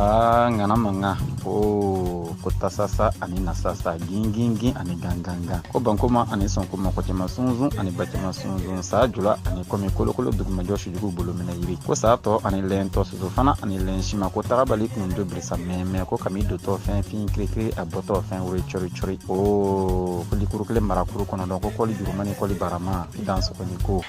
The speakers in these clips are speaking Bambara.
aa ŋana mankan ko ko tasasa ani nasasa gingingin ani gangangan ko bankoma ani sɔnkoma kɔ cɛma sunsun ani ba cɛma sunsun saa jula ani kɔmi kolokolo dugumajɔ sujugu bolo minɛ yiri ko saa tɔ ani lɛn tɔ soso fana ani lɛn sima ko tagabali kun do birisa mɛmɛ ko kami dontɔ fɛn fin kirikiri a bɔtɔ fɛn wulen cori cori o ko likuru kelen marakuru kɔnɔ dɔn ko kɔli jurumani kɔli barama dan sɔgɔni ko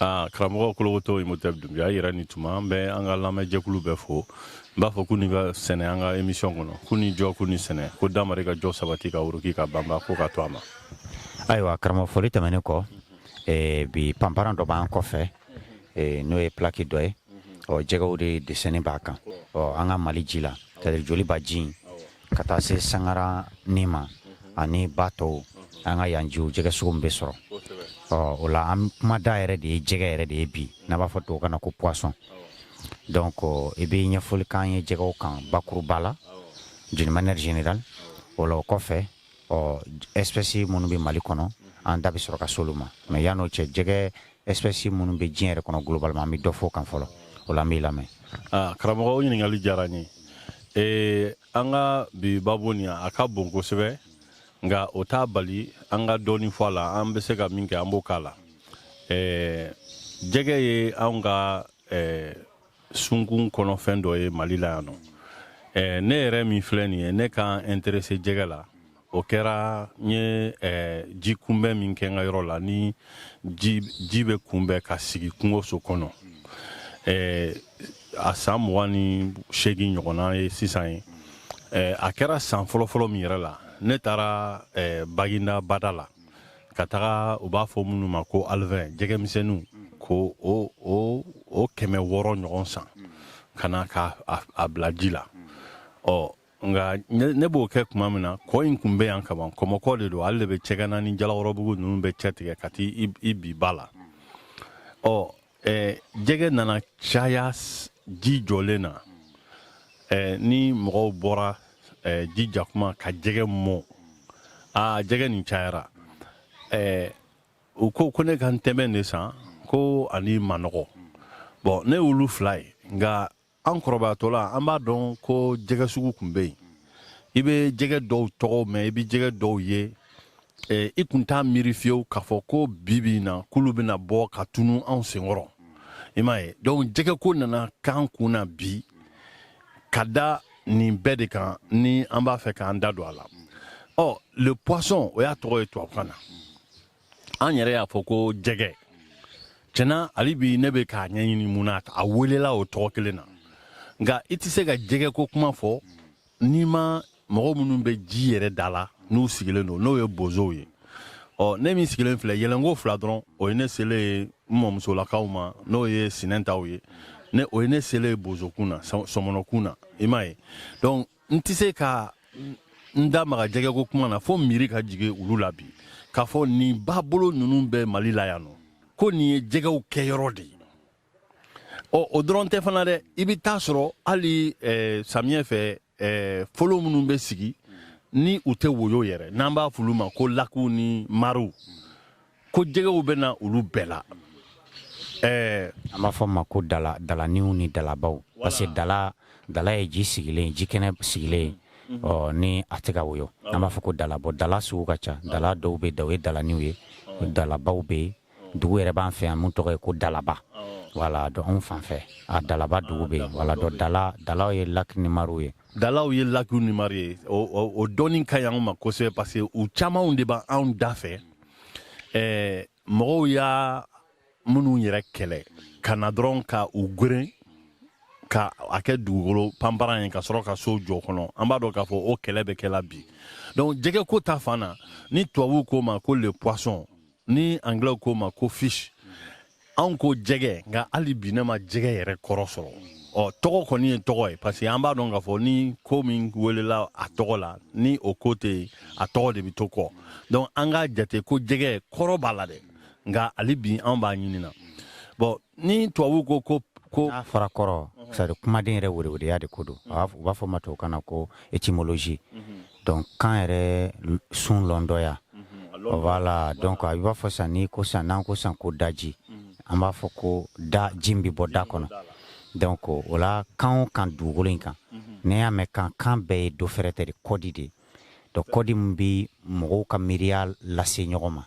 Aa karamɔgɔ kolokoto imotɛpu dunbiya yɛrɛ ni tuma an bɛ an ka lamɛnjɛkulu bɛɛ fo n b'a fɔ k'u ni ka sɛnɛ an ka émission kɔnɔ k'u ni jɔ k'u ni sɛnɛ ko damari ka jɔ sabati ka wuruki ka banba ko ka to a ma ayiwa karamɔgɔ foli tɛmɛnen kɔ bi panparan dɔ b'an kɔfɛ n'o ye plaki dɔ ye ɔ jɛgɛw de dessin b'a kan ɔ an ka mali ji la c'est-à-dire joliba ji Ka taa se sankarani ma ani ba tɔw an ka yan jiw jɛgɛ sugu min bɛ sɔrɔ ɔ o la an kuma da yɛrɛ de ye jɛgɛ yɛrɛ de ye bi n'a b'a fɔ tubabukan na ko poisson donc i bɛ ɲɛfɔli k'an ye jɛgɛw kan bakuruba la d'une manière générale o la o kɔfɛ ɔ espèce minnu bɛ mali kɔnɔ an da bɛ sɔrɔ ka s'olu ma mais yan'o cɛ jɛgɛ espèce minnu bɛ diɲɛ yɛrɛ kɔnɔ globalement an bɛ dɔ f'o kan fɔlɔ o la an b'i lamɛn ah, karamɔgɔ o ɲininkali diyara n ye ee an ka bi babu nin a ka bon kosɛbɛ nka o t'a bali an ka dɔɔnin fɔ a la an bɛ se ka min kɛ an b'o k'a la ee jɛgɛ ye anw ka ee sunkun kɔnɔfɛn dɔ ye mali la yan nɔ eh, ne yɛrɛ min filɛ nin ye ne ka n interese jɛgɛ la o kɛra n ye eh, ji kunbɛn min kɛ n ka yɔrɔ la ni ji, ji bɛ kunbɛn ka sigi kungoso kɔnɔ eh, a san mugan ni seegin ɲɔgɔnna ye sisan ye eh, a kɛra san fɔlɔfɔlɔ min yɛrɛ la ne taara eh, baginda bada la ka taga u b'a fɔ minnu ma ko alevin jɛgɛmisɛnninw ko o kɛmɛ wɔɔrɔ ɲɔgɔn san ka na ka a bila ji la ɔ nka ne b'o kɛ tuma min na kɔ in kun bɛ yan kaban kɔmɔkɔ de don ale de bɛ cɛgana ni jalakɔrɔbugu ninnu bɛɛ cɛ tigɛ ka taa i bin ba la ɔ ɛɛ jɛgɛ nana caya ji jɔlen na ɛɛ ni mɔgɔw bɔra ɛɛ ji ja kuma ka jɛgɛ mɔn aa jɛgɛ nin cayara ɛɛ u ko ko ne ka ntɛbɛn de san ko ani manɔgɔ bon ne y'olu fila ye nka an kɔrɔbayatɔla an b'a dɔn ko jɛgɛ sugu kun bɛ yen i bɛ jɛgɛ dɔw tɔgɔ mɛn i bɛ jɛgɛ dɔw ye eh, i kun t'a miiri fiyewu k'a fɔ ko bi bi in na k'olu bɛna bɔ ka tunu anw senkɔrɔ i m'a ye donc jɛgɛ ko nana k'an kun na bi ka da nin bɛɛ de kan ni an b'a fɛ k'an da don a la ɔ le poisson o y'a tɔgɔ ye tubabukan na an yɛrɛ y'a fɔ ko jɛgɛ tiɲɛ na hali bi ne bɛ k'a ɲɛɲini mun na a welela o tɔgɔ kelen na nka i tɛ se ka jɛgɛ ko kuma fɔ n'i ma mɔgɔ minnu bɛ ji yɛrɛ da la n'u sigilen don n'o ye bozow ye ɔ ne min sigilen filɛ yɛlɛnko fila dɔrɔn o ye ne selen ye n mɔmusolakaw ma n'o ye sinɛntaw ye ne o ye ne selen ye bozokun na sɔmɔnɔkun na i m'a ye donc n tɛ se ka n da maga jɛgɛko kuma na fo miiri ka jigin olu la bi k'a fɔ nin babolo ninnu bɛ mali la yan nɔ ko nin ye jɛgɛw kɛyɔrɔ de ye ɔ o dɔrɔn tɛ fana dɛ i bɛ taa sɔrɔ hali eh, samiyɛ fɛ eh, folo minnu bɛ sigi ni u tɛ woyo yɛrɛ n'an b'a f'olu ma ko lakiw ni mariw ko jɛgɛw bɛ na olu bɛɛ la ɛɛ an b'a fɔ ma ko dala dalaniw ni dalabaw parce que dala dala ye ji sigilen ji kɛnɛ sigilen ye mhm. ɔ ni a tɛ ka woyo an b'a fɔ ko dala bon dala sugu ka ca dala dɔw bɛ da o ye dalaniw ye dalabaw bɛ yen dugu yɛrɛ b'an fɛ yan min tɔgɔ ye ko dalaba voilà donc anw fan fɛ a dalaba dugu bɛ yen voilà donc dala dalaw ye laki ni mariw ye dalaw ye lakiw ni mari ye o dɔnni ka ɲi anw ma kosɛbɛ parce que u camanw de b'anw da fɛ ɛɛ mɔgɔw y'a minnu yɛrɛ kɛlɛ ka na dɔrɔn ka u gweren ka a kɛ dugukolo panparan ye ka sɔrɔ ka so jɔ kɔnɔ an b'a dɔn k'a fɔ o kɛlɛ bɛ kɛla bi donc jɛgɛ ko ta fan na ni tubabuw k'o ma ko le poisson ni anglais k'o ma ko fish anw ko jɛgɛ nka hali bi ne ma jɛgɛ yɛrɛ kɔrɔ sɔrɔ ɔ tɔgɔ kɔni ye tɔgɔ ye parce que an b'a dɔn k'a fɔ ni ko min welela a tɔgɔ la ni o ko tɛ yen a tɔgɔ de bɛ to kɔ donc an k'a jate ko jɛgɛ kɔrɔ b'a la dɛ nka hali bi an b'a ɲini na bon ni tubabuw ko ko ko n'a fɔra kɔrɔ c'est à dire kumaden yɛrɛ werewereya de ko don u b'a fɔ ma tubabukan na ko étymologie mhm. donc kan yɛrɛ sun lɔndɔya voilà donc a i b'a fɔ sisan ni ko sisan n'an ko sisan ko daji an b'a fɔ ko da ji min bɛ bɔ da kɔnɔ donc o la kan o kan dugukolo in kan n'i y'a mɛn kan kan bɛɛ ye dɔ wɛrɛ tɛ dɛ kɔdi de donc kɔdi min bɛ mɔgɔw ka miiriya lase ɲɔgɔn ma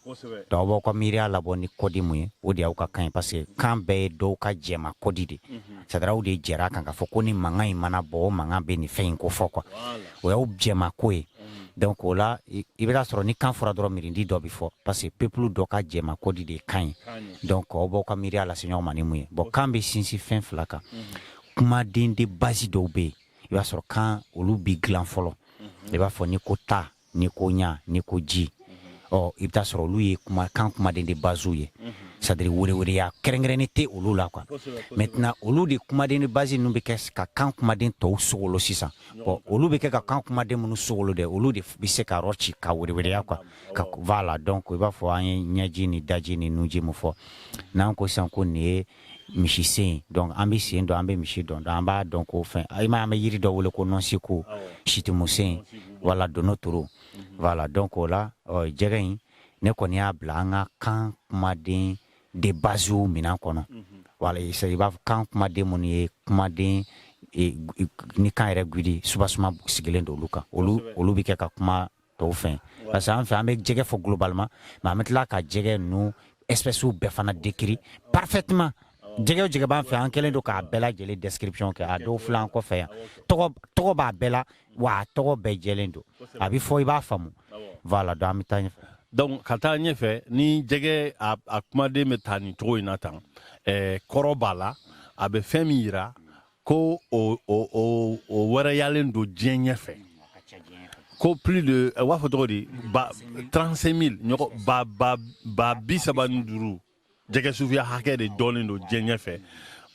donc aw b'aw ka miiriya labɔ ni kɔdi min ye o de y'aw ka kan ye parce que kan bɛɛ ye dɔw ka jɛma kɔdi de c'est à dire aw de jɛra a kan k'a fɔ ko ni mankan in mana bɔ o mankan bɛ nin fɛn in kofɔ quoi o y'aw jɛma ko ye donc o la i bɛ taa sɔrɔ ni kan fɔra dɔrɔn miirili dɔ bɛ fɔ parce que peuple dɔ ka jɛma kɔdi de ye kan ye donc aw b'aw ka miiriya lase ɲɔgɔn ma ni min ye bon kan bɛ sinsin fɛn fila kan kumaden de base dɔw bɛ yen i b'a sɔrɔ kan olu bɛ dilan fɔlɔ i b'a fɔ ni ko ta ni ko ɲa ni ko ji ɔ i bɛ taa sɔrɔ olu ye kuma kan kumaden de basew ye c'est-à-dire wɛrɛwɛrɛya kɛrɛnkɛrɛnnen tɛ olu la quoi maintenant olu de kumaden de base ninnu bɛ kɛ ka kan kumaden tɔw sogolo sisan ɔ olu bɛ kɛ ka kan kumaden minnu sogolo dɛ olu de bɛ se ka yɔrɔ ci ka wɛrɛwɛrɛya quoi ka voilà donc i b'a fɔ an ye ɲɛji ni daji ni nunji mun fɔ n'an ko sisan ko nin ye misi sen donc an bɛ sen dɔn an bɛ misi dɔn an b'a dɔn ko fɛn i m'a ye an bɛ yiri dɔ wele ko nɔnsiku situmusen wala dono toro voilà donc o la jɛgɛ in ne kɔni y'a bila an ka kan kumaden de basew minɛn kɔnɔ voilà i b'a fɔ kan kumaden minnu ye kumaden ni kan yɛrɛ gdi soubassement sigilen don olu kan olu olu bɛ kɛ ka kuma tɔw fɛn parce que an fɛ an bɛ jɛgɛ fɔ globalement mais an bɛ tila ka jɛgɛ ninnu espèces bɛɛ fana décrit parfaitement jɛgɛ o jɛgɛ b'an fɛ an kɛlen don k'a bɛɛ lajɛlen description kɛ a dɔw filɛ an kɔfɛ yan tɔgɔ b'a bɛɛ la wa a tɔgɔ bɛɛ jɛlen don a bɛ fɔ i b'a faamu voilà donc an bɛ taa ɲɛfɛ donc ka taa ɲɛfɛ ni jɛgɛ a, a kumaden bɛ taa nin cogo in na tan eh, kɔrɔ b'a la a bɛ fɛn min yira ko o, o, o, o wɛrɛyalen don diɲɛ ɲɛfɛ ko plus de eh, u b'a fɔ cogo di ba 35 000 ɲɔgɔn ba ba ba bi saba ni duuru jɛgɛ sufiya hakɛ de dɔnnen don diɲɛ ɲɛfɛ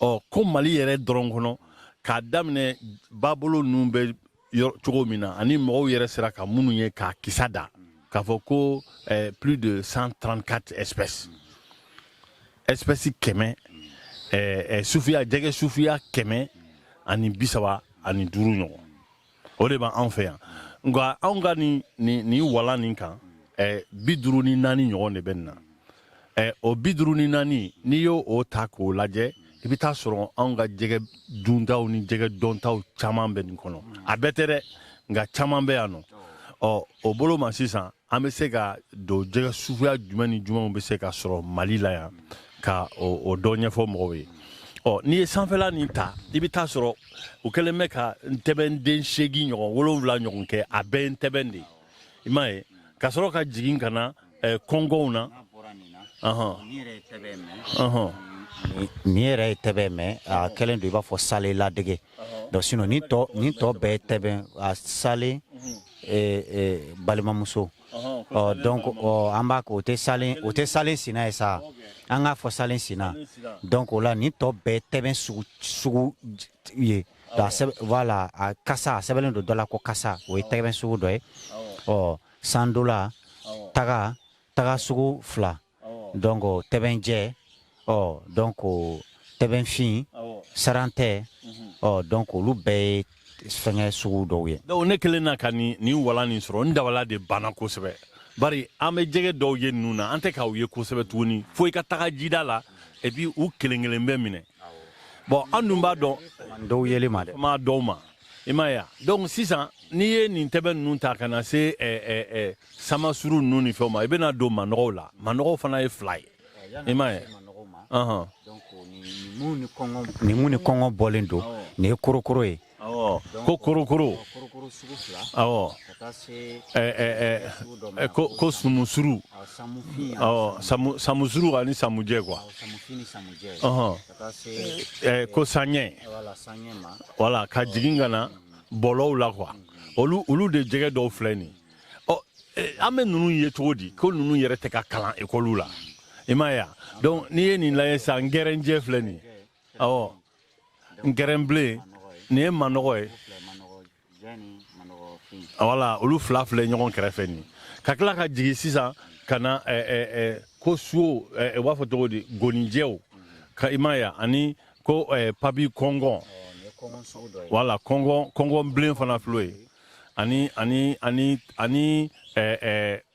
ɔ ko mali yɛrɛ dɔrɔn kɔnɔ k'a daminɛ babolo ninnu bɛ cogo min na ani mɔgɔw yɛrɛ sera ka minnu ye k'a kisa da k'a fɔ ko eh, plus de 134 espèces espèces kɛmɛ eh, eh, sufiya jɛgɛ sufiya kɛmɛ ani bisaba ani duuru ɲɔgɔn o de b'an fɛ yan nka anw ka ni ni ni walan nin kan eh, bi duuru ni naani ɲɔgɔn de bɛ nin na eh, o bi duuru ni naani n'i y'o ta k'o lajɛ i bɛ taa sɔrɔ anw ka jɛgɛ duntaw ni jɛgɛ dɔntaw caman bɛ nin kɔnɔ a bɛɛ tɛ dɛ nka caman bɛ yan nɔ ɔ o bolo ma sisan an bɛ se ka don jɛgɛ suguya jumɛn ni jumɛnw bɛ se ka sɔrɔ mali la yan ka o dɔ ɲɛfɔ mɔgɔw ye ɔ n'i ye sanfɛla nin ta i bɛ taa sɔrɔ u kɛlen bɛ ka ntɛbɛnden seegin ɲɔgɔn wolonwula ɲɔgɔn kɛ a bɛɛ ye ntɛbɛn de ye i m'a ye ka sɔrɔ ka jigin ka na eh, kɔngɔw na nin yɛrɛ ye tɛbɛn mais a kɛlen don i b'a fɔ salen ladege donc sinon nin tɔ nin tɔ bɛɛ ye tɛbɛn a salen balimamuso donc an b'a kɛ o tɛ sa o tɛ salen sina ye sa an k'a fɔ salen sina donc o la nin tɔ bɛɛ ye tɛbɛn sugu ye voilà a kasa a sɛbɛnnen don dɔ la ko kasa o ye tɛbɛn sugu dɔ ye ɔ sandola taga taga sugu fila donc tɛbɛnjɛ ɔ donc tɛbɛnfin saran tɛ ɔ donc olu bɛɛ ye fɛngɛ sugu dɔw ye donc ne kelen na ka nin nin walan nin sɔrɔ n dabala de banna kosɛbɛ bari an bɛ jɛgɛ dɔw ye ninnu na an tɛ k'u ye kosɛbɛ tuguni fo i ka taga jida la et puis u kelen kelen bɛ minɛ bon an dun b'a dɔn dɔw yeli man di maa dɔw ma i m'a ye donc sisan n'i ye nin tɛbɛn ninnu ta ka na se eh, eh, eh, samasuru ninnu ni fɛnw ma i bɛna don manɔgɔw la manɔgɔw fana ye fila ye i m'a ye ni mun ni kɔngɔ bɔlen don nin ye korokoro ye ko korokoro awɔ ko sumusuru awɔ samusuru ani samujɛ quoi eh, ko sanɲɛ voilà ka jigin ka na bɔlɔw la quoi olu olu de jɛgɛ dɔw filɛ nin ɔ eh, an bɛ ninnu ye cogo di ko ninnu yɛrɛ tɛ ka kalan ekɔliw la i m'a ye donc n'i ye nin lajɛ sisan ngɛrɛnjɛ filɛ nin awɔ ngɛrɛnbilen nin ye manɔgɔ ye voilà olu fila filɛ ɲɔgɔn kɛrɛfɛ nin ka tila ka jigin sisan ka na eh, eh, eh, ko suo u b'a fɔ cogo di goninjɛw quoi i m'a ye ani ko papi kɔngɔn voilà kɔngɔn kɔngɔn bilen fana filɛ ye ani ani ani ani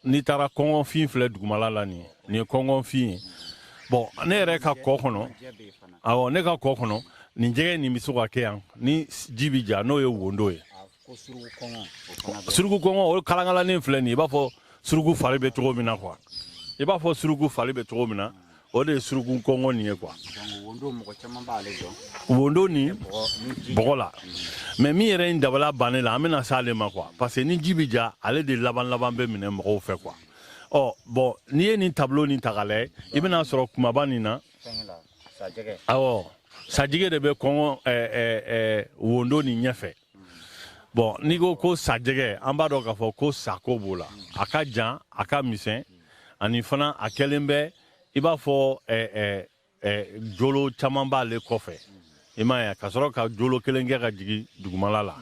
n'i taara kɔngɔnfin filɛ dugumala la nin ye nin ye kɔngɔnfin ye bon ne yɛrɛ ka kɔ kɔnɔ awɔ ne ka kɔ kɔnɔ nin jɛgɛ nin bɛ se ka kɛ yan ni ji bɛ ja n'o ye wondo ye suruku kɔngɔ o kalankalannin filɛ nin ye i b'a fɔ suruku fari bɛ cogo min na quoi i b'a fɔ suruku fari bɛ cogo min na o de ye suruku kɔngɔ nin ye quoi wondo ni bɔgɔ la mais min yɛrɛ n dabala bannen la an bɛna s'ale ma quoi parce que ni ji bɛ ja ale de laban laban bɛ minɛ mɔgɔw fɛ quoi ɔ bon n'i ye nin tableau nin ta k'a lajɛ i bɛna sɔrɔ kumaba nin na awɔ sajɛgɛ de bɛ kɔngɔ eh, eh, eh, wondo nin ɲɛfɛ bon n'i ko ko sajɛgɛ an b'a dɔn k'a fɔ ko sako b'o la a ka jan a ka misɛn ani fana a kɛlen bɛ i b'a fɔ jolo caman b'ale kɔfɛ i m'a ye ka sɔrɔ ka jolo kelen kɛ ka jigin dugumala la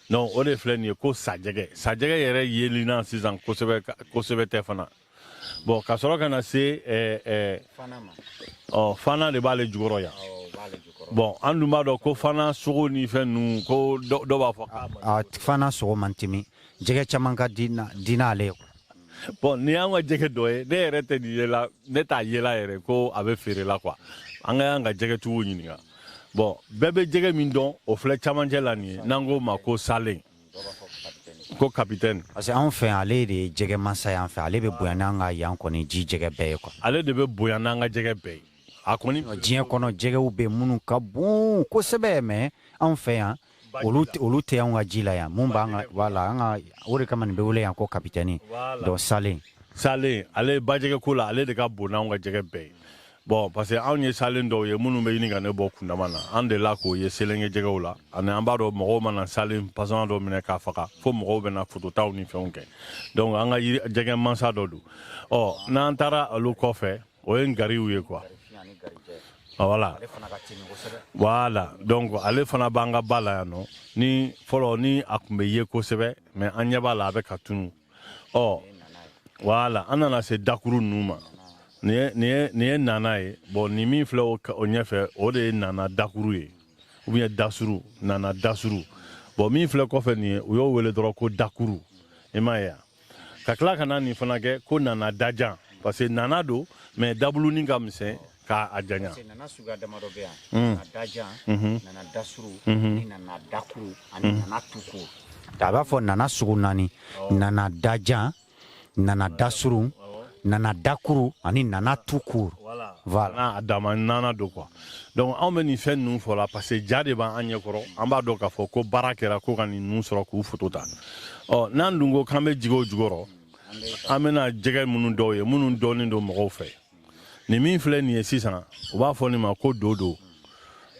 donc o de filɛ nin ye ko sajɛgɛ sajɛgɛ yɛrɛ yelinan sisan kosɛbɛ kosɛbɛ tɛ fana bon ka sɔrɔ ka na se ɔ fana de b'ale jukɔrɔ yan bon an dun b'a dɔn ko fana sogo ni fɛn ninnu ko dɔ b'a fɔ fana sogo man timi jɛgɛ caman ka di n'ale ye bon nin y'an ka jɛgɛ dɔ ye ne yɛrɛ tɛ nin yela ne t'a yela yɛrɛ ko a bɛ feere la quoi an ka y'an ka jɛgɛtigiw ɲininka bon bɛɛ bɛ jɛgɛ min dɔn o filɛ camancɛ la nin ye n'an k'o ma ko salen ko kapitɛni parce que anw fɛ yan ale de ye jɛgɛ mansa y'an fɛ ale bɛ bonya n'an ka yan kɔni ji jɛgɛ bɛɛ ye quoi ale de bɛ bonya n'an ka jɛgɛ bɛɛ ye a kɔni diɲɛ kɔnɔ jɛgɛw bɛ minnu ka bon kosɛbɛ mais anw fɛ yan olu olu tɛ an ka ji la yan min b'an ka ba la an ka o de kama nin bɛ wele yan ko kapitɛni donc salen salen ale bajɛgɛ ko la ale de ka bon n'anw ka jɛgɛ bɛɛ ye bon parce que anw ye salen dɔw ye minnu bɛ ɲini ka ne bɔ kundama na an delila k'o ye selenge jɛgɛw la ani an b'a dɔn mɔgɔw mana salen façon dɔ minɛ k'a faga fo mɔgɔw bɛna fototaw ni fɛnw kɛ donc an ka jɛgɛ mansa dɔ don ɔ n'an taara olu kɔfɛ o ye ngariw ye quoi voilà voilà donc ale fana b'an ka ba la yan nɔ ni fɔlɔ ni a tun bɛ ye kosɛbɛ mais an ɲɛ b'a la a bɛ ka tunu ɔ voilà an nana se dakuru ninnu ma nin ye nana ye bon nin min filɛ o ɲɛfɛ o de ye nana dakuru ye ou bien dasuru nana dasuru bon min filɛ kɔfɛ nin ye u y'o wele dɔrɔn ko dakuru i m'a ye yan ka tila ka na nin fana kɛ ko nana dajan parce que nana don mais dabulunin ka misɛn k'a janya nana suguya damadɔ bɛ yan mm. nana dajan mhm. nana dasuru mhm. ni nana dakuru ani mhm. nana tukuru a b'a fɔ nana sugu naani nana dajan nana dasuru nana dakuru ani nana tukuru voilà a dama nana don quoi donc anw bɛ nin fɛn ninnu fɔ la parce que ja de b'an ɲɛkɔrɔ an b'a dɔn k'a fɔ ko baara kɛra ko ka nin ninnu sɔrɔ k'u foto ta ɔ n'an dun ko k'an bɛ jigin o jukɔrɔ an bɛna jɛgɛ minnu dɔw ye minnu dɔnnen don mɔgɔw fɛ nin min filɛ nin ye sisan u b'a fɔ nin ma ko dodo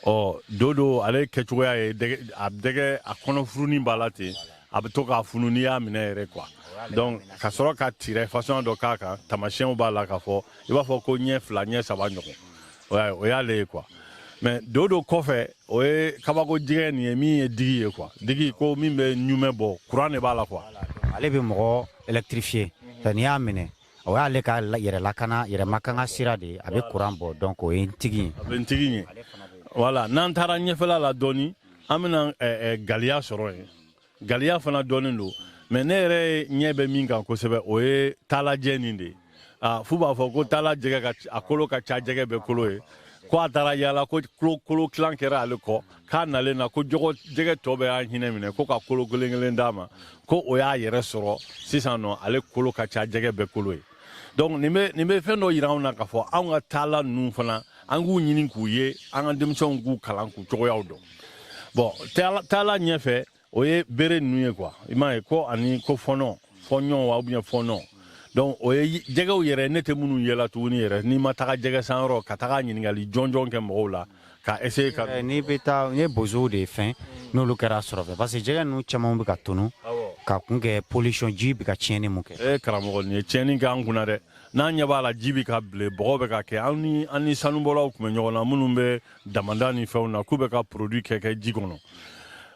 ɔ dodo ale kɛcogoya ye a dɛgɛ a kɔnɔfurunin b'a la ten a bɛ to k'a funu n'i y'a minɛ yɛrɛ quoi donc ka sɔrɔ ka tirɛ façon dɔ k'a kan tamasiyɛnw b'a la k'a fɔ i b'a fɔ ko ɲɛ fila ɲɛ saba ɲɔgɔn o y'a ye o y'ale ye quoi mais dodo kɔfɛ o ye kabako jɛgɛ nin ye min ye ntigin ye quoi ntigin ko min bɛ ɲumɛ bɔ kuran de b'a la quoi ale bɛ mɔgɔ électrifier nka n'i y'a minɛ o y'ale ka la- yɛrɛ lakana yɛrɛ makanga sira de ye a bɛ kuran bɔ donc o ye ntigin ye a bɛ ntigin ɲɛ voilà n'an taara ɲɛfɛla la dɔɔni an bɛna eh, eh, galiya sɔrɔ yen galiya fana dɔnnen don mais ne yɛrɛ ɲɛ bɛ min kan kosɛbɛ o ye taalajɛ nin de ye ah, f'u b'a fɔ ko taala jɛgɛ a kolo ka ca jɛgɛ bɛɛ kolo ye ko a taara yaala ko kolo tilan kɛra ale kɔ k'a nalen na ko jɔgɔ jɛgɛ tɔ bɛɛ y'a hinɛ minɛ ko ka kolo kelen kelen d'a ma ko o y'a yɛrɛ sɔrɔ sisan nɔ ale kolo ka ca jɛgɛ bɛɛ kolo ye donc nin bɛ nin bɛ fɛn dɔ yira anw na k'a fɔ anw ka taala ninnu fana an k'u ɲini k'u ye an ka denmisɛnw k'u kalan k'u cogoyaw dɔn bon taala taala ɲɛfɛ o ye bere ninnu ye quoi i m'a ye ko ani ko fɔnɔ fɔɲɔn wa ou bien fɔnɔ donc o ye jɛgɛw yɛrɛ ne tɛ minnu yela tuguni yɛrɛ n'i ma taga jɛgɛ san yɔrɔ ka taga ɲininkali jɔnjɔn kɛ mɔgɔw la Ka essayer ka n'i bɛ taa ye bozow de fɛ n'olu kɛra sɔrɔ parce que jɛgɛ ninnu caman bɛ ka tunun k'a kun kɛ pollution ji bɛ ka tiɲɛni mun kɛ karamɔgɔ nin ye tiɲɛni kɛ an kun dɛ n'an ɲɛ b'a la ji bɛ ka bilen bɔgɔ bɛ ka kɛ an an ni sanubɔlaw tun bɛ ɲɔgɔn na minnu bɛ damanda ni fɛnw na k'u bɛ ka produit kɛ kɛ ji kɔnɔ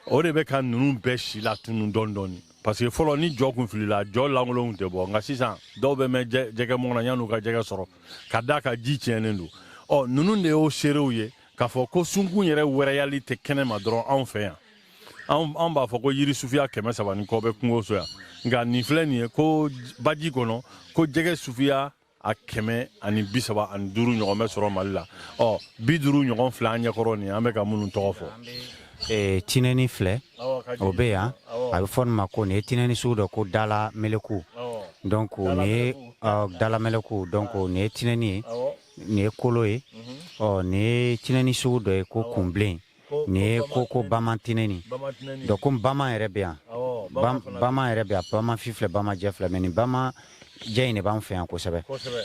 o de bɛ ka ninnu bɛɛ silatunun dɔɔni dɔɔni parce que fɔlɔ ni jɔ kun filila jɔ lankolonw tɛ bɔ nka sisan dɔw bɛ mɛn jɛgɛ mɔna yann'u ka jɛgɛ sɔrɔ k'a d'a kan ji tiɲɛnen don ɔ ninnu de y'o seerew ye k'a fɔ ko sunkun yɛrɛ wɛrɛyali tɛ kɛnɛ ma dɔrɔn anw fɛ yan anw b'a fɔ ko yiri sufiya kɛmɛ saba ni kɔ bɛ kungo so yan nka nin filɛ nin ye ko baji kɔnɔ ko jɛgɛ sufiya a kɛmɛ ani bi saba ani duuru ɲɔgɔn bɛ sɔrɔ mali la ɔ bi duuru ɲɔgɔn filɛ an ɲɛkɔrɔ nin an bɛ ka minnu tɔgɔ fɔ eh, tinɛni filɛ o bɛ yan a bɛ fɔ nin ma ko nin ye tinɛni sugu dɔ ko dala meleku donc nin ye dala meleku donc nin ye tinɛni ye nin ye kolo ye ɔ nin ye tinɛni sugu dɔ ye ko kunbilen nin ye ko ko bama tinɛni donc ko bama yɛrɛ bɛ yan bama yɛrɛ bɛ yan bama fin filɛ bama jɛ filɛ mais nin bama jɛ in de b'an fɛ yan kosɛbɛ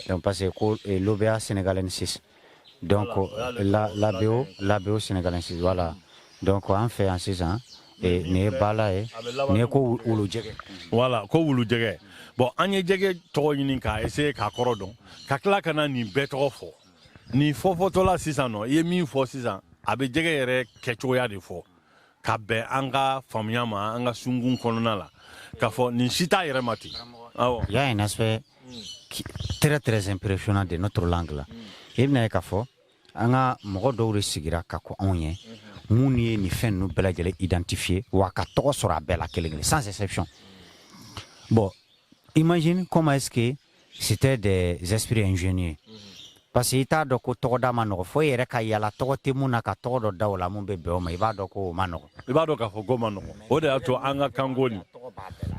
donc parce que ko eh, lobeya sénégalensis donc la labeo labeo sénégalensis voilà donc an fɛ yan sisan eh, nin ye bala ye nin ye ko wulu jɛgɛ voilà ko wulu jɛgɛ bon an ye jɛgɛ tɔgɔ ɲini ka essayer k'a kɔrɔ dɔn ka tila ka na nin bɛɛ tɔgɔ fɔ ni fɔfɔtɔla sisan nɔ i ye min fɔ sisan a bɛ jɛgɛ yɛrɛ kɛcogoya de fɔ ka bɛn an ka faamuya ma an ka sunkun kɔnɔna la k'a fɔ nin si t'a yɛrɛ ma ten il y a un aspect très très impressionnant de notre langue là i bɛna ye k'a fɔ an ka mɔgɔ dɔw de sigira ka ko anw ye minnu ye nin fɛn ninnu bɛɛ lajɛlen identifier wa ka tɔgɔ sɔrɔ a bɛɛ la kelen kelen sans exception bon imagine comment est-ce que c'était des esprits ingénieux parce que i t'a dɔn ko tɔgɔda ma nɔgɔ fo i yɛrɛ ka yala tɔgɔ tɛ mun na ka tɔgɔ dɔ da o la mun bɛ bɛn o ma i b'a dɔn ko o ma nɔgɔ i b'a dɔn k'a fɔ ko ma nɔgɔ o de y'a to an ka kanko nin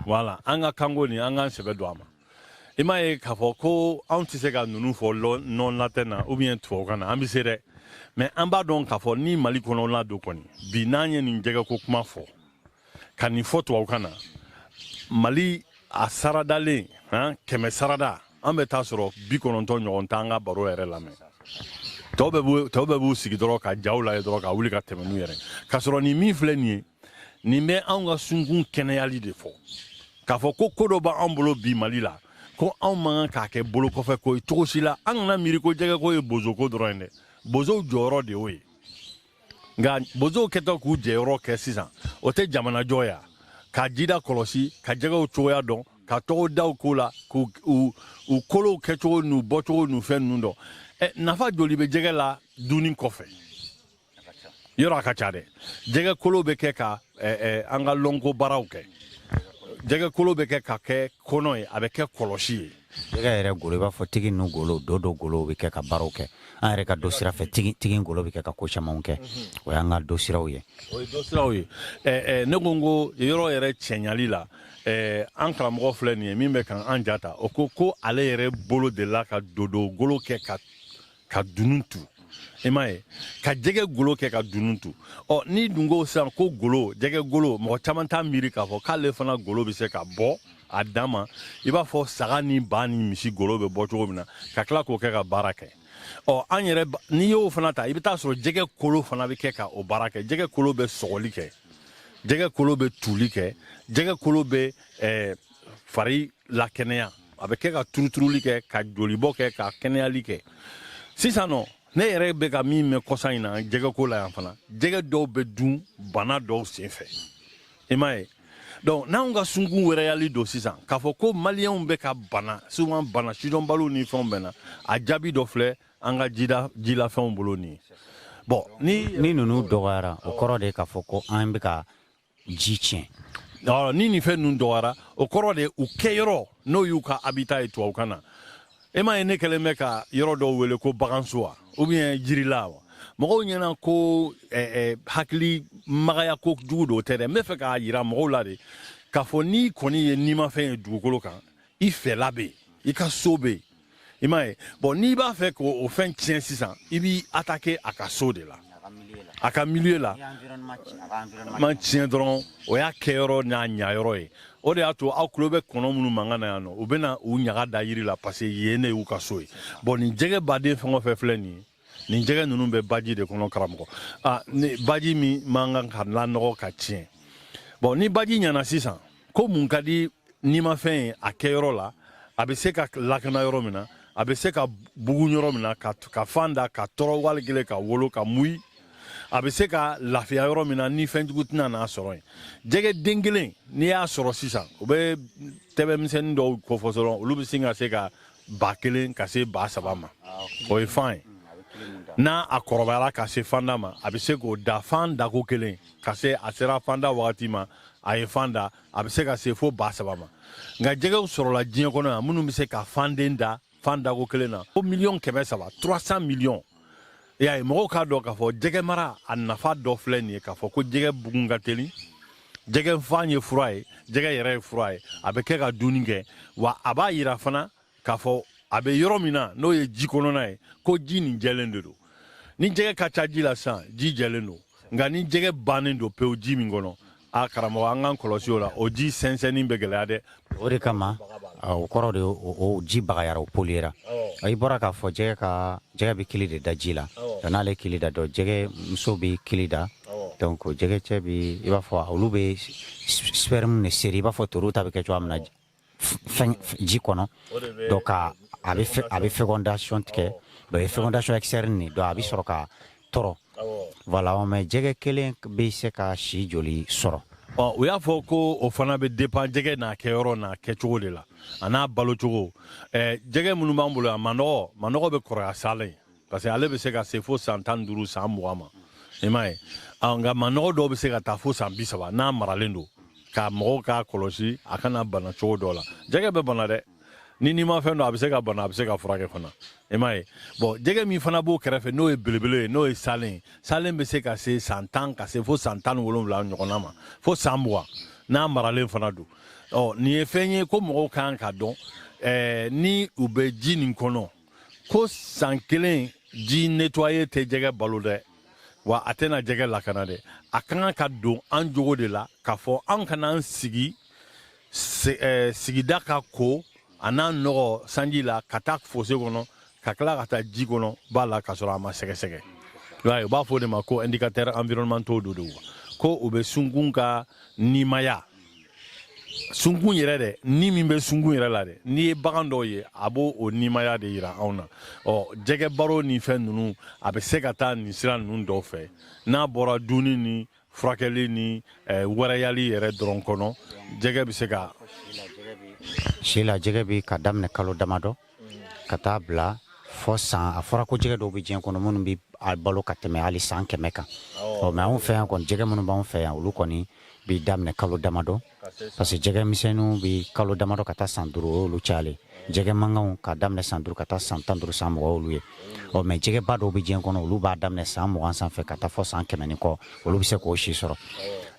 voilà an ka kanko nin an k'an sɛbɛ don a ma i m'a ye k'a fɔ ko anw tɛ se ka ninnu fɔ non latin na ou bien tubabukan na an bɛ se dɛ mais an b'a dɔn k'a fɔ ni mali kɔnɔ la don kɔni bi n'an ye nin jɛgɛko kuma fɔ ka nin fɔ tubabukan na mali a saradalen han kɛmɛ sarada an bɛ taa sɔrɔ bi kɔnɔntɔn ɲɔgɔn t'an ka baro yɛrɛ lamɛn tɔw bɛɛ b'u tɔw bɛɛ b'u sigi dɔrɔn ka jaw lajɛ dɔrɔn ka wuli ka tɛmɛ n'u yɛrɛ k'a sɔrɔ nin min filɛ nin ye nin bɛ anw ka sunkun kɛnɛyali de fɔ k'a fɔ ko ko dɔ b'an bolo bi mali la ko anw man kan k'a kɛ bolo kɔfɛ ko ye cogo si la an kana miiri ko jɛgɛko ye bozoko dɔrɔn ye dɛ bozow jɔyɔrɔ de y'o ye nka bozow kɛtɔ k'u jɔyɔrɔ kɛ sisan o tɛ jamana jɔ ya ka jida kɔlɔsi ka jɛgɛw cogoya dɔn ka tɔgɔdaw k'u la k'u u kolow kɛcogo n'u bɔcogo n'u fɛn ninnu dɔn ɛ nafa joli bɛ jɛgɛ la dunni kɔfɛ yɔrɔ a ka ca dɛ jɛgɛ kolo bɛ kɛ ka an ka lɔnko baaraw kɛ jɛgɛ kolo bɛ kɛ ka kɛ kɔnɔ ye a bɛ kɛ kɔlɔsi ye Jɛgɛ yɛrɛ golo i b'a fɔ tigi ninnu golo dodo golo bɛ kɛ ka baaraw kɛ an yɛrɛ ka do sira fɛ tigi golo bɛ kɛ ka ko camanw kɛ o y'an ka do siraw ye o ye do siraw ye ne ko n ko yɔrɔ yɛrɛ cɛɲali la an karamɔgɔ filɛ nin ye min bɛ ka an ja ta o ko ko ale yɛrɛ bolo de la ka dodo golo kɛ ka ka dunun tu i m'a ye ka jɛgɛ golo kɛ ka dunun tu ɔ n'i dun ko sisan ko golo jɛgɛ golo mɔgɔ caman t'a miiri k'a fɔ k'ale fana golo bɛ se ka bɔ a danma i b'a fɔ saga ni ba ni misi golo bɛ bɔ cogo min na ka tila k'o kɛ ka baara kɛ ɔ an yɛrɛ n'i y'o fana ta i bɛ taa sɔrɔ jɛgɛ kolo fana bɛ kɛ ka o baara kɛ jɛgɛ kolo bɛ sɔgɔli kɛ jɛgɛ kolo bɛ tuuli kɛ jɛgɛ kolo bɛ ɛɛ fari lakɛnɛya a bɛ kɛ ka turuturuli kɛ ka jolibɔ kɛ ka kɛnɛyali kɛ sisan nɔ ne yɛrɛ bɛ ka min mɛn kɔsa in na jɛgɛko la yan fana jɛgɛ dɔw bɛ dun bana dɔw senfɛ i m'a ye donc n'anw ka sunkun wɛrɛyali don sisan k'a fɔ ko maliyɛnw bɛ ka bana souvent bana sidɔnbaliw ni fɛnw bɛ na a jaabi dɔ filɛ an ka jida jilafɛnw bolo nin ye bon ni ni ninnu dɔgɔyara o kɔrɔ de k'a fɔ ko an bɛ ka ji tiɲɛ ɔ ni nin fɛn ninnu dɔgɔyara o kɔrɔ de u kɛyɔrɔ n'o y'u ka habitat ye tubabukan na e m'a ye ne kɛlen bɛ ka yɔrɔ dɔw wele ko baganso wa ou bien jirila wa mɔgɔw ɲɛna ko eh, eh, hakili magaya kojugu don o tɛ dɛ n bɛ fɛ k'a yira mɔgɔw la de k'a fɔ n'i kɔni ye nimafɛn ye dugukolo kan i fɛla bɛ yen i ka so bɛ yen i m'a ye bon n'i b'a fɛ k'o fɛn tiɲɛ sisan i b'i attaquer a ka so de la a ka milieu la mana tiɲɛ dɔrɔn o y'a kɛyɔrɔ n'a ɲayɔrɔ ye o de y'a to aw tulo bɛ kɔnɔ minnu mankan na yan nɔ u bɛ na u ɲaga da yiri la parce que yen de y'u ka so ye bon nin jɛgɛ baden fɛn o fɛn filɛ nin ye nin jɛgɛ ninnu bɛ baji de kɔnɔ karamɔgɔ a ni baji min man kan ka lanɔgɔ ka tiɲɛ bon ni baji ɲana sisan ko mun ka di nimafɛn ye a kɛyɔrɔ la a bɛ se ka lakana yɔrɔ min na a bɛ se ka bugun yɔrɔ min na ka, ka fan da ka tɔrɔ wali kelen ka wolo ka muyi a bɛ se ka lafiya yɔrɔ min na ni fɛnjugu tɛna n'a sɔrɔ yen jɛgɛ den kelen n'i y'a sɔrɔ sisan u bɛ ntɛbɛn misɛnnin dɔw kofɔ dɔrɔn olu bɛ sin ka se ka ba kelen ka se ba saba ma o ye fan ye n'a a kɔrɔbayara ka se fanda ma a bɛ se k'o da fan dako kelen ka se a sera fanda wagati ma a ye fan da a bɛ se ka se fo ba saba ma nka jɛgɛw sɔrɔla diɲɛ kɔnɔ yan minnu bɛ se ka fanden da fan dako kelen na fo miliyɔn kɛmɛ saba 300 miliyɔn i y'a ye mɔgɔw k'a dɔn k'a fɔ jɛgɛ mara a nafa dɔ filɛ nin ye k'a fɔ ko jɛgɛ bugun ka teli jɛgɛ fan ye fura ye jɛgɛ yɛrɛ ye fura ye a bɛ kɛ ka dunni kɛ wa a b'a yira fana k'a fɔ a bɛ yɔrɔ min na n'o ye ji kɔnɔna ye ko ji nin jɛlen de don ni jɛgɛ ka ca ji la sisan ji jɛlen don nka ni jɛgɛ bannen don pewu ji min kɔnɔ a karamɔgɔ an k'an kɔlɔsi o la o ji sɛnsɛnni bɛ gɛlɛya dɛ o de kama o kɔrɔ de o ji bagayara o poliyera i bɔra k'a fɔ ɛɛ ko jɛgɛ bɛ kili de da ji la ɔ n'ale kili da donc jɛgɛ muso bɛ kili da donc jɛgɛ cɛ bɛ i b'a fɔ olu bɛ sperme de seri i b'a fɔ ntori ta bɛ kɛ cogoya min na ji kɔnɔ donc a bɛ fécondation tigɛ donc fécondation externe nin donc a bɛ sɔrɔ ka tɔrɔ voilà mais jɛgɛ kelen bɛ se ka si joli sɔrɔ ɔ u y'a fɔ ko o fana bɛ dépend jɛgɛ n'a kɛyɔrɔ n'a kɛcogo de la a n'a balocogo jɛgɛ minnu b'an bolo yan manɔgɔ manɔgɔ bɛ kɔrɔya salen parce que ale bɛ se ka se fo san tan ni duuru san mugan ma i m'a ye nka manɔgɔ dɔw bɛ se ka taa fo san bi saba n'a maralen don ka mɔgɔw k'a kɔlɔsi a kana bana cogo dɔ la jɛgɛ bɛ bana dɛ nimafɛn don a bɛ se ka bana a bɛ se ka furakɛ fana i m'a ye bon jɛgɛ min fana b'o kɛrɛfɛ n'o ye belebele ye n'o ye salen salen bɛ se ka se san tan ka se fo san tan ni wolonwula ɲɔgɔnna ma fo san mugan n'a maralen fana don ɔ nin ye fɛn ye ko mɔgɔw kan k'a dɔn ɛɛ ni u bɛ ji nin kɔnɔ ko san kelen ji nettoyer tɛ jɛgɛ balo dɛ wa a tɛna jɛgɛ lakana dɛ a ka kan ka don an jogo de la k'a fɔ an kana an sigi eh, sigida ka ko a n'a nɔgɔ sanji la ka taa fossé kɔnɔ ka tila ka taa ji kɔnɔ ba la ka sɔrɔ a ma sɛgɛsɛgɛ u b'a fɔ o de ma ko indicateur environnementaux do do ko u bɛ sunkun ka nimaya sunkun yɛrɛ dɛ ni min bɛ sunkun yɛrɛ la dɛ n'i ye bagan dɔw ye a b'o o nimaya de yira anw na ɔ jɛgɛ baro ni fɛn ninnu a bɛ se ka taa nin sira ninnu dɔw fɛ n'a bɔra dunni ni furakɛli ni eh, wɛrɛyali yɛrɛ dɔrɔn kɔnɔ jɛgɛ bɛ se ka si la jɛgɛ bɛ ka daminɛ kalo damadɔ ka taa bila fɔ san a fɔra ko jɛgɛ dɔw bɛ diɲɛ kɔnɔ minnu bɛ a balo ka tɛmɛ hali san kɛmɛ kan ɔ mais anw fɛ yan kɔni jɛgɛ minnu b'an fɛ yan olu kɔni bɛ daminɛ kalo damadɔ parce que jɛgɛ misɛnninw bɛ kalo damadɔ ka taa san duuru o y'olu cayalen jɛgɛ mankanw ka daminɛ san duuru ka taa san tan duuru san mugan olu ye ɔ mais jɛgɛba dɔw bɛ diɲɛ kɔnɔ olu b'a daminɛ san mugan sanfɛ ka taa fɔ san kɛmɛ ni kɔ olu bɛ se k'o si sɔrɔ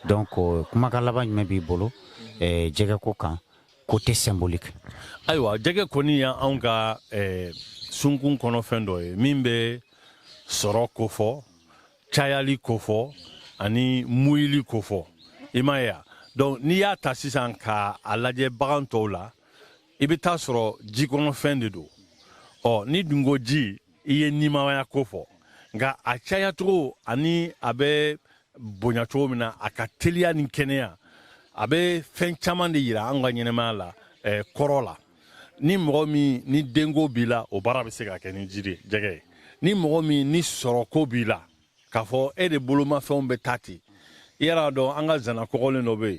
donc kumakan laban jumɛn b'i bolo jɛgɛ ko kan côté symbolique ayiwa jɛgɛ kɔni y' anw ka eh, sunkun kɔnɔ fɛn dɔ ye min bɛ sɔrɔ kofɔ cayali kofɔ ani muyili kofɔ i m'a ye donc n'i y'a ta sisan ka a lajɛ bagan tɔw la i bɛ taa sɔrɔ jikɔnɔfɛn de don ɔ n'i dun ko ji i ye nimaya kofɔ nka a cayacogo ani a bɛ bonya cogo min na a ka teliya ni kɛnɛya a bɛ fɛn caman de yira an ka ɲɛnɛmaya la eh, kɔrɔ la ni mɔgɔ min ni denko b'i la o baara bɛ se ka kɛ ni jɛgɛ ye ni mɔgɔ min ni sɔrɔko b'i la k'a fɔ e de bolomafɛnw bɛ taa ten i yɛrɛ dɔn an ka zana kɔgɔlen dɔ bɛ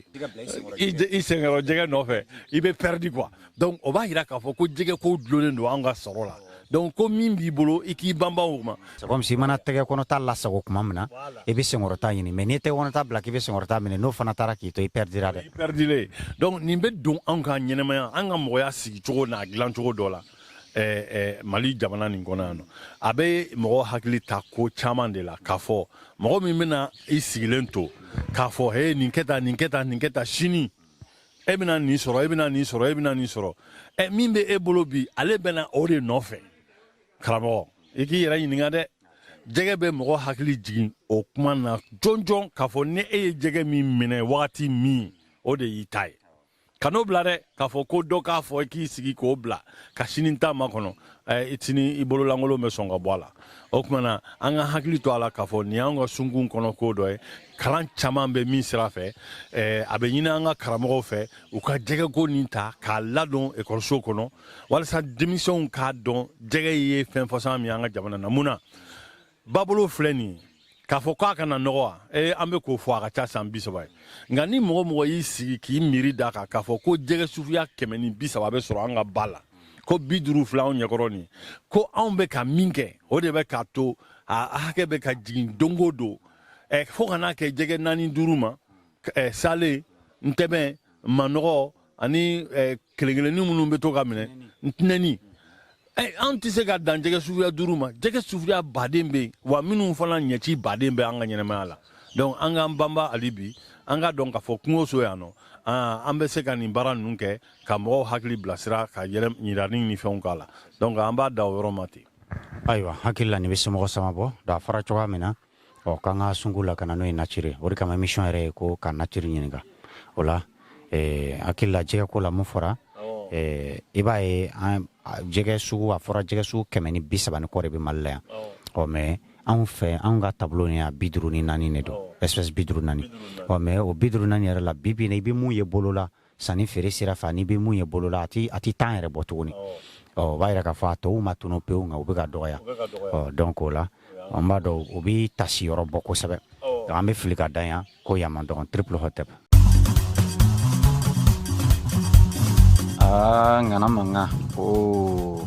yen i senkɔrɔ jɛgɛ nɔfɛ i bɛ pɛridi quoi donc o b'a yira k'a fɔ ko jɛgɛ ko dulonnen don an ka sɔrɔ la donc ko min b'i bolo i k'i banba o ma comme si i mana tɛgɛ kɔnɔta lasago tuma min na i bɛ senkɔrɔta ɲini mais n'i ye tɛgɛ kɔnɔta bila k'i bɛ senkɔrɔta minɛ n'o fana taara k'i to i pɛridira dɛ i pɛridilen donc nin bɛ don anw ka ɲɛnɛmaya an ka mɔgɔya sigi cogo n'a dilan cogo dɔ la eh, eh, mali jamana nin kɔnɔ yan nɔ a bɛ mɔgɔ hakili ta ko caman de la k'a fɔ mɔgɔ min bɛna i sigilen to k'a fɔ he nin kɛ tan nin kɛ tan nin kɛ tan sini e bɛna nin sɔrɔ e bɛna nin sɔrɔ e bɛna nin sɔrɔ ɛ e, min bɛ e bolo bi ale bɛna o de nɔfɛ karamɔgɔ i k'i yɛrɛ ɲininka dɛ jɛgɛ bɛ mɔgɔ hakili jigin o kuma na jɔnjɔn k'a fɔ ni e ye jɛgɛ min minɛ wagati min o de y'i ta ye kan'o bila dɛ k'a fɔ ko dɔ k'a fɔ i k'i sigi k'o bila ka sini ta makɔnɔ sini i bololankolon bɛ sɔn ka bɔ a la o tuma na an ka hakili to a la k'a fɔ nin y'an ka sunkun kɔnɔ ko dɔ ye kalan caman bɛ min sira fɛ a bɛ ɲini an ka karamɔgɔw fɛ u ka jɛgɛko nin ta k'a ladon ekɔliso kɔnɔ walasa denmisɛnw k'a dɔn jɛgɛ ye fɛn fasɔn min an ka jamana na mun na babolo filɛ nin ye k'a fɔ k'a kana nɔgɔ wa ee an bɛ k'o fɔ a ka ca san bi saba ye nka ni mɔgɔ o mɔgɔ y'i sigi k'i miiri d'a kan k'a fɔ ko jɛgɛ suguya kɛmɛ ni bi saba bɛ sɔrɔ an ka ba la ko bi duuru filɛ anw ɲɛkɔrɔ nin ko anw bɛ ka min kɛ o de bɛ k'a to a hakɛ bɛ ka jigin don o don eh, fo ka n'a kɛ jɛgɛ naani duuru ma eh, salen ntɛbɛn manɔgɔ ani kelen kelenni minnu bɛ to ka minɛ ntɛnɛni an tɛ se ka dan jɛgɛ suguya duuru ma jɛgɛ suguya ba de bɛ yen wa minnu fana ɲɛciba de bɛ an ka ɲɛnamaya la donc an k'an banba hali bi an ka dɔn k'a fɔ kungoso yan nɔ an bɛ se ka nin baara ninnu kɛ ka mɔgɔw hakili bilasira ka ɲinini ni fɛnw k'a la donc an b'a dan o yɔrɔ ma ten ayiwa hakili la nin bɛ somɔgɔ sama bɔ da fara cogoya min na ɔ k'an ka sungu lakana n'o ye nature o de kama émission yɛrɛ ye ko ka nature ɲininka o la eh, hakili la jɛgɛ ko la mun fɔra eh, i b'a ye an jɛgɛ sugu a fɔra jɛgɛ sugu kɛmɛ ni bi saba ni kɔ de bɛ mali la yan ɔ mais anw fɛ anw ka tableau ni a bi duuru ni naani de don espèce bi duuru naani ɔ mais o bi duuru naani yɛrɛ la bi bi in na i bɛ mun ye bolo la sanni feere sira fɛ n'i bɛ mun ye bolo la a tɛ tan yɛrɛ bɔ tuguni ɔ o b'a yira k'a fɔ a tɔw ma tunu pewu nka u bɛ ka dɔgɔya ɔ donc o la an b'a dɔn o bɛ taasi yɔrɔ bɔ kosɛbɛ an bɛ fili ka dan yan ko yama dɔgɔn triple hotep aa ŋana mankan ko